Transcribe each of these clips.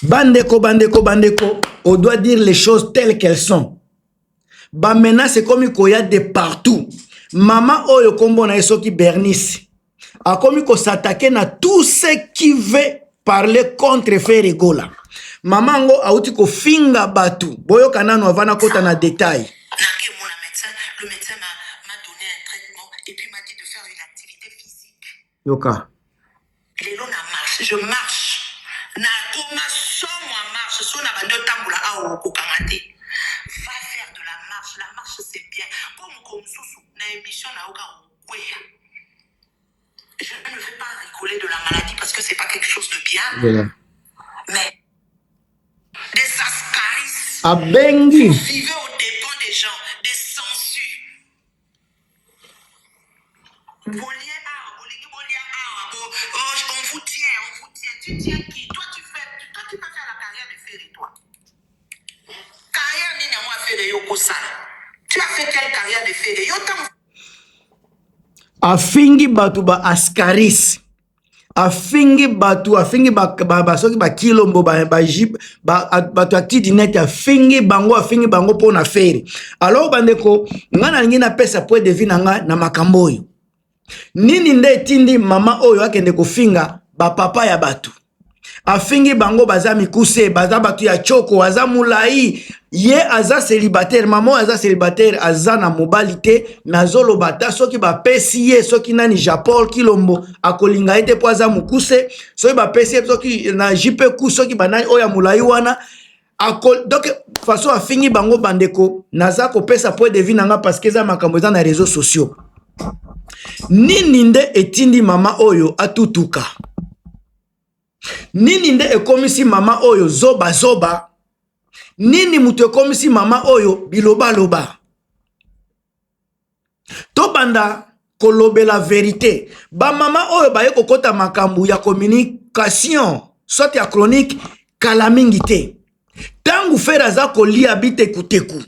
bandeko bandeko bandeko on doit dire les choses telles qu'elles sont bamenace ekomi koya de partout mama oyo nkombo na ye soki bernice akomi kosatake na tout ce qui veut parler contre fere gola mama yango auti kofinga bato boyoka nano avana kota na detail Yoka. Lelo na marche, je marche. Na koma somo ya marche, soki na bandi otambola awa okokanga te. Va faire de la marche, la marche c'est bien. Po mokolo mosusu na emission na yoka okweya. Je ne vais pas rigoler de la maladie parce que c'est pas quelque chose de bien. Yeah. Mais des ascaris. Abengi. Vivez au dépens des gens, des sangsues. afingi bato ba ascaris afingi bato afingi basoki bakilombo bato ya tidinet afingi bango afingi bango mpo na fere alors bandeko ngai nalingi napesa point de vue na ngai na makambo oyo nini nde etindi mama oyo akende kofinga bapapa ya bato afingi bango baza mikuse baza bato ya choko aza molai ye aza célibataire mama oyo aza célibataire aza na mobali te nazoloba ata soki bapesi ye soki nani japol kilombo akolinga ye te mpo aza mokuse soki bapesi ye soki na jp ku soki banani oyo ya molai wana ako donc façon afingi bango bandeko naza kopesa point de vue na nga parce que eza makambo eza na réseaux sociaux nini nde etindi mama oyo atutuka nini nde ekomisi mama oyo zoba zoba nini moto ekomisi mama oyo bilobaloba tobanda kolobela verite bamama oyo baye kokɔta makambo ya communication soit ya chronique kala mingi te ntango fere aza kolia bitekuteku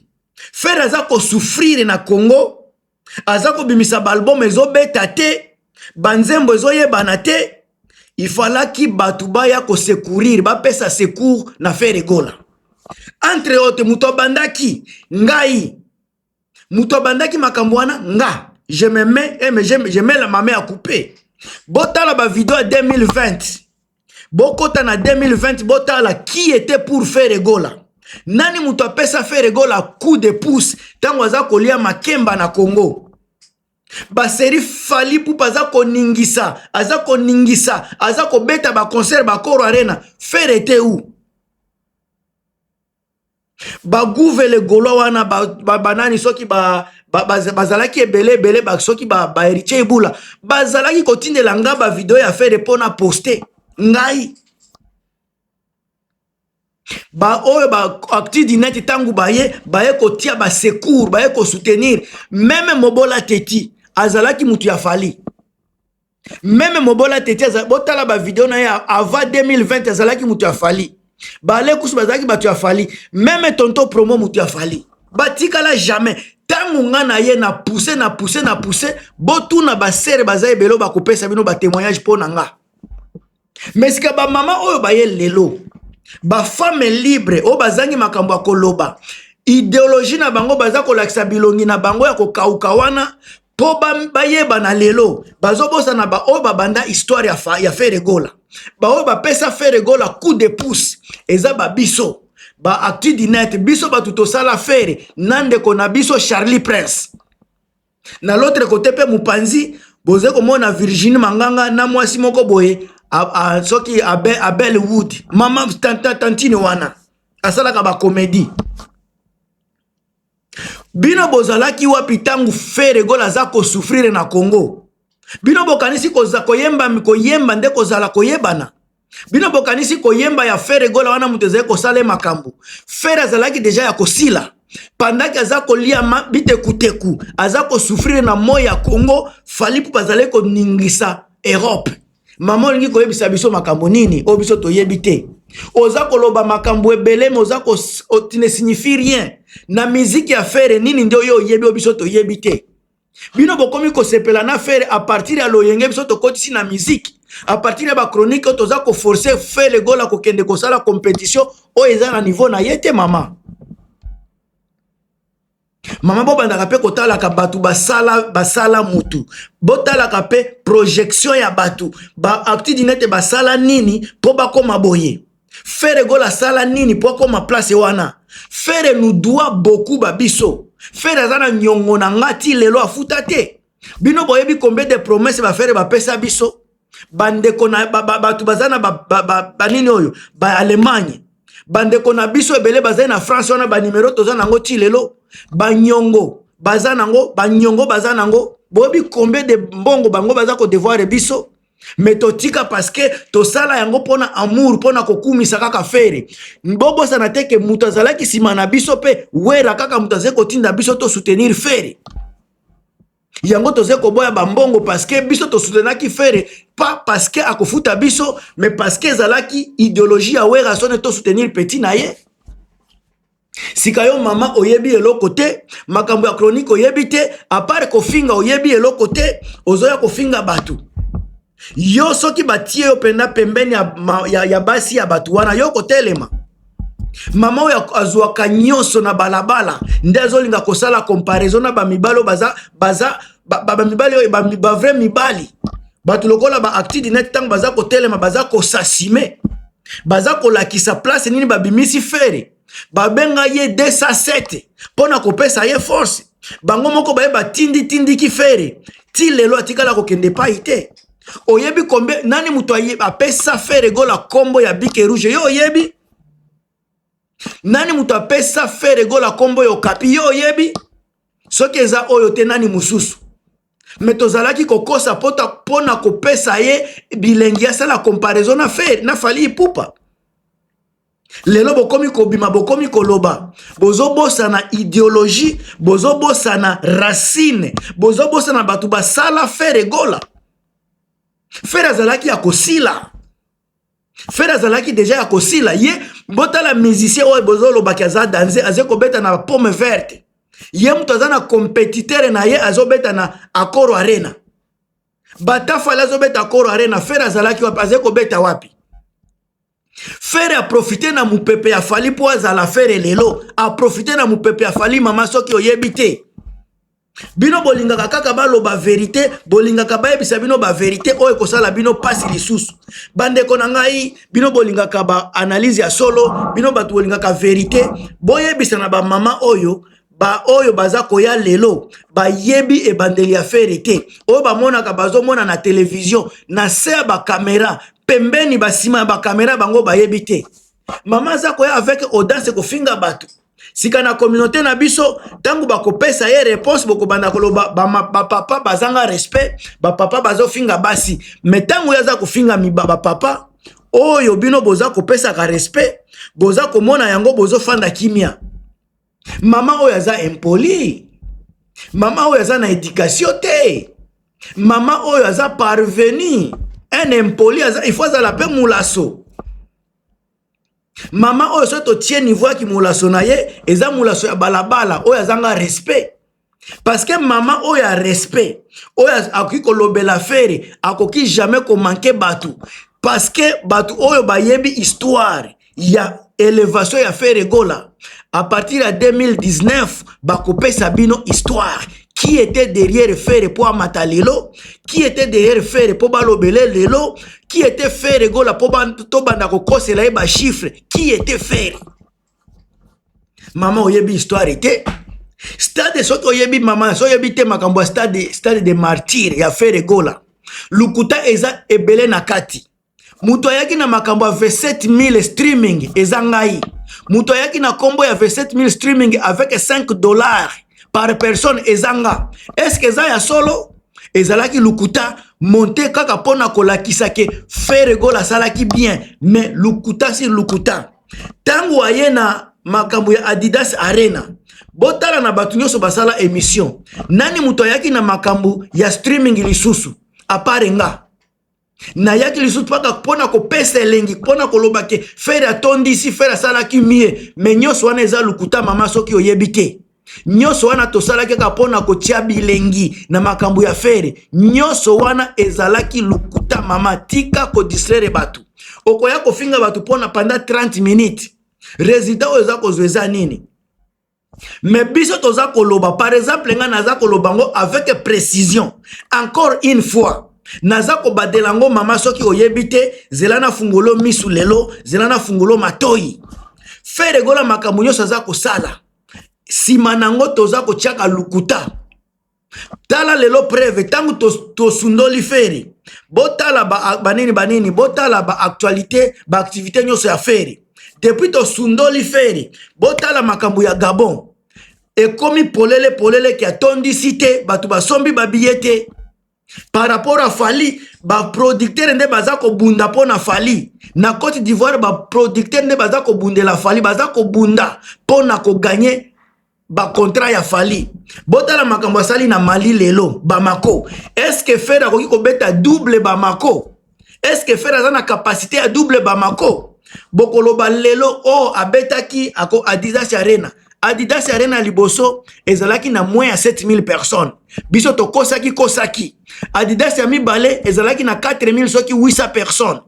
fere aza kosufrire na congo aza kobimisa baalbum ezobeta te banzembo ezoyebana te ifalaki bato baya kosecourir bapesa secour na fere gola entre autre moto abandaki ngai moto abandaki makambo wana nga je me mets et eh, je mets la mame à couper botala bavideo ya 2020 bokota na 2020 botala qui était pour Ferre Gola nani moto apesa Ferre Gola coup de pouce ntango aza kolia makemba na Congo baseri fali pupa aza koningisa aza koningisa aza kobeta baconcert bakoro arena fere te u ba gouve le gaulois wana banani ba, soki ba, ba, ba, bazalaki ebele ebele ba, soki ba, ba héritier ebula bazalaki kotindela nga ba video ya fere mpo na poste ngai baoyo baacti dineti ntango baye baye kotia basecour baye kosoutenir meme mobola teti azalaki moto ya fali meme mobola tete azali botala bavideo na ye avant 2020 azalaki moto ya fali balekusu bazalaki bato ya fali meme tonto promo moto ya fali batikala jamais ntango nga na ye na pouse na pouse na pouse botuna basere baza ebele bakopesa bino batemoignage mpo na nga mais sika ba mama oyo baye lelo ba femme libre oyo bazangi makambo ya koloba ideologie na bango baza kolakisa bilongi na bango ya kokauka wana mpo bayebana lelo bazobosana baoyo babanda histoire ya, ya feregola baoyo bapesa feregola coup de pouce eza babiso ba actu du net biso bato tosala fere na ndeko na biso charlie prince na l'autre côté pe mupanzi boze komona Virginie Manganga na mwasi moko boye soki Abel, Abel Wood mama tanta tantine wana asalaka ba comédie bino bozalaki wapi ntango feregola aza kosufrire na congo bino bokanisi koyemba koyemba nde kozala koyebana bino bokanisi koyemba ya fere gola wana moto ezali kosala ye makambo fere azalaki deja ya kosila pandaki aza kolia bitekuteku aza kosufrire na moi ya congo fali mpo bazali koningisa europe mama olingi koyebisa biso makambo nini oyo biso toyebi te oza koloba makambo ebele me oza ne signifie rien na miziki ya fere nini nde oyo oyebi oyo biso toyebi te bino bokomi kosepela na fere a partir ya loyenge biso tokotisi na miziki a partir ya bachronique oyo toza koforce fele gola kokende kosala competition oyo eza na niveau na ye te mama mama bobandaka mpe kotalaka bato basala basala motu botalaka mpe projection ya bato baactidine ete basala nini mpo bakoma boye Ferre Gola asala nini po akoma place wana? Ferre nous doit beaucoup ba biso. Ferre aza na nyongo na nga ti lelo afuta te. Bino boyebi combien de promesses ba Ferre bapesa biso? bandeko na bato baza na banini oyo ba allemagne bandeko na biso ebele bazali na france wana banimero toza nango ti lelo banyongo baza nango banyongo baza nango boyebi combien de mbongo bango baza kodevoire biso me totika parceke tosala yango mpona amour mpona kokumisa kaka fere bobosana te ke moto azalaki nsima na biso mpe wera kaka moto azali kotinda biso tosoutenir fere yango toze koboya bambongo parceke biso tosutenaki fere pa parceke akofuta biso me parceke ezalaki ideologie ya wera sone tosoutenir petit na ye sika yo mama oyebi eloko te makambo ya chronique oyebi te apart kofinga oyebi eloko te ozoya kofinga bato yo soki batie yo mpenza pembeni ya, ya, ya basi ya bato wana yo kotelema mama oyo azwaka nyonso na balabala nde azolinga kosala comparaison na bamibali oyo baza baza bamibali oyo bavrai mibali bato lokola baactidi net ntango baza kotelema baza kosasime baza kolakisa place nini babimisi fere babenga ye 207 mpo na kopesa ye force bango moko baye batinditindiki fere ti lelo atikala kokende pai te oyebi kombe nani moto apesa fere gola nkombo ya bike rouge yo oyebi nani moto apesa fere gola nkombo ya okapi yo oyebi soki eza oyo te nani mosusu me tozalaki kokosa mpo na kopesa ye bilengi asala comparaison na fe na fali ipupa lelo bokomi kobima bokomi koloba bozobosana ideologie bozobosana racine bozobosana bato basala fere egola fere azalaki ya kosila Fred azalaki deja ya kosila ye botala musicien oyo bozolobaki aza danze aze kobeta na pomme verte ye moto aza na competitere na ye azobeta na acoro arena batafale azobeta acoro arena fere azalaki wapi aze kobeta wapi fere aprofite na mopepe ya fali mpo azala fere lelo aprofite na mopepe ya fali mama soki oyebi te bino bolingaka kaka baloba verite bolingaka bayebisa bino baverite oyo ekosala bino mpasi lisusu bandeko na ngai bino bolingaka baanalyse ya solo bino bato bolingaka verite boyebisa na bamama oyo baoyo baza koya lelo bayebi ebandeli ya fere te oyo bamonaka bazomona na televizio na se ya bakamera pembeni basima ya bakamera bango bayebi te mama aza koya avec audace kofinga bato sika na communauté na biso ntango bakopesa ye réponse bokobanda koloba bapapa ba bazanga respect bapapa bazofinga basi me ntango ye aza kofinga miba bapapa oyo bino boza kopesaka respect boza komona yango bozofanda kimia mama oyo aza impoli mama oyo aza na edikatio te mama oyo aza parvenu un impoli aza, il faut azala mpe molaso mama oyo soki totie niveau ya kimolaso na ye eza molaso ya balabala oyo azanga respect parce que mama oyo ya respect oyo akoki kolobela fere akoki jamais komanke bato parce que bato oyo bayebi histoire ya elevation ya fere gola à partir ya 2019 bakopesa bino histoire qui était derrière Ferre pour amata lelo qui était derrière Ferre pour balobele lelo qui était Ferre gola pour tobanda kokosela ye ba chiffre qui était Ferre maman oyebi histoire te stade soki oyebi mama so oyebi te makambo ya stade stade de martyr ya Ferre gola lokuta eza ebele na kati moto ayaki na makambo ya 27000 streaming eza ngai moto ayaki na nkombo ya 27000 streaming avec 5 dollars par personne eza nga eske eza ya solo ezalaki lukuta monte kaka mpo na kolakisa ke feregol asalaki bien mais lukuta si lukuta ntango aye na makambo ya adidas arena botala na bato nyonso basala emission nani moto ayaki na makambo ya streaming lisusu apare nga nayaki lisusu mpaka mpo na kopesa elengi mpo na koloba ke fere atondisi fere asalaki mie me nyonso wana eza lokuta mama soki oyebi te nyonso wana tosalaki kaka mpo na kotya bilengi na makambo ya fere nyonso wana ezalaki lokuta mama tika kodistraire bato okoya kofinga bato mpo na panda 30 minutes resultat oyo eza kozwa eza nini mais biso toza koloba par exemple ngai naza koloba yango avec précision encore une fois naza kobadela yango mama soki oyebi te zela na fungolo misu lelo zela na fungolo matoi feregola makambo nyonso aza kosala nsima na yango toza kotyaka lukuta tala lelo preve ntango tosundoli feri botala banini banini botala baactualité baactivité nyonso ya feri depuis tosundoli feri botala makambo ya gabon ekomi polele polele ke atondisi te bato basombi babiye te par rapport ya fali baproducteur nde baza kobunda mpo na fali na cote d'ivoire baproducteur nde baza kobundela fali baza kobunda mpo na koganye bakontrat ya fali botala makambo asali na mali lelo bamako eske fere akoki kobeta double bamako eske fere aza na kapasité ya double bamako bokoloba lelo o oh, abetaki ako adidas arena adidas arena liboso ezalaki na moins ya 7000 personnes biso tokosaki kosaki adidas ya mibale ezalaki na 4000 soki 800 personnes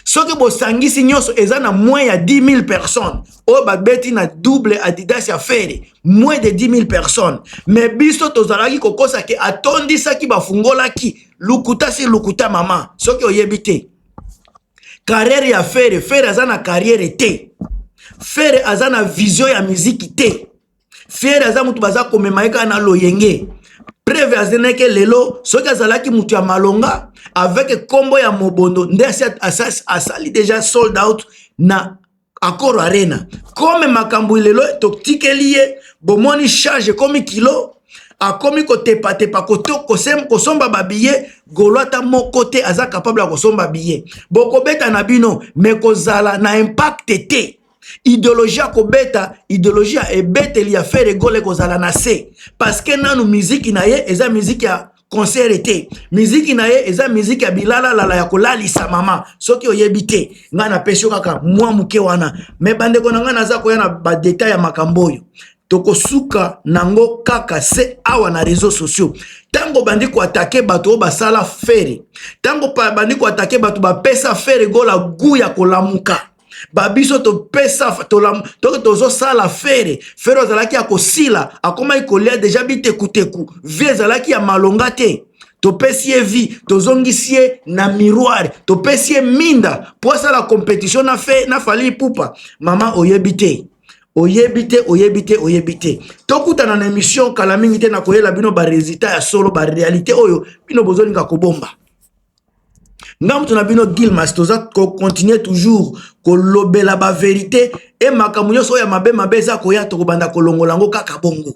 soki bosangisi nyonso eza na moins ya 10 000 personnes oyo babeti na double adidas ya fere moins de 10 000 personnes me biso tozalaki kokosa ke atondisaki bafungolaki lukuta si lukuta mama soki oyebi te carrière ya fere fere aza na carrière te fere aza na vision ya miziki te fiere aza motu baza komema ye kaka na loyenge preve azeneke lelo soki azalaki motu ya malonga avec kombo ya mobondo nde asali deja sold out na accord arena kome makambo lelo totikeli ye bomoni charge ekomi kilo akomi kotepatepa kosomba babiye golo ata moko te aza capable ya kosomba biye bokobeta na bino me kozala na impacte te ideologie ya kobeta ideologie ya ebeteli ya fere gole ekozala na se parceke nanu miziki na ye eza miziki ya konsere te miziki na ye eza miziki ya bilalalala ya kolalisa mama soki oyebi te ngai napesi yo kaka mwa moke wana me bandeko na ngai naza koya na badeta ya makambo oyo tokosuka nango kaka se awa na réseau sociaux ntango obandi koatake bato oyo basala fere ntango obandi koatake bato bapesa fere gola gu ya kolamuka babiso topesa toke tozosala fere fere azalaki ya kosila akomaki kolia deja bitekuteku vi ezalaki ya malonga te topesi ye vi tozongisi ye na miroir topesi ye minda mpo asala competition na, fe, na fali ipupa mama oyebi te oyebi te oyebi te oyebi te tokutana na emission kala mingi te nakoyela bino baresultat ya solo barealité oyo bino bozolinga kobomba nga moto na bino gilmas toza kocontinue toujours kolobela baverité e makambo nyonso oyo ya mabe mabe eza koya tokobanda kolongola yango kaka bongo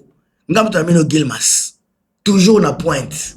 nga moto na bino gilmas toujours na pointe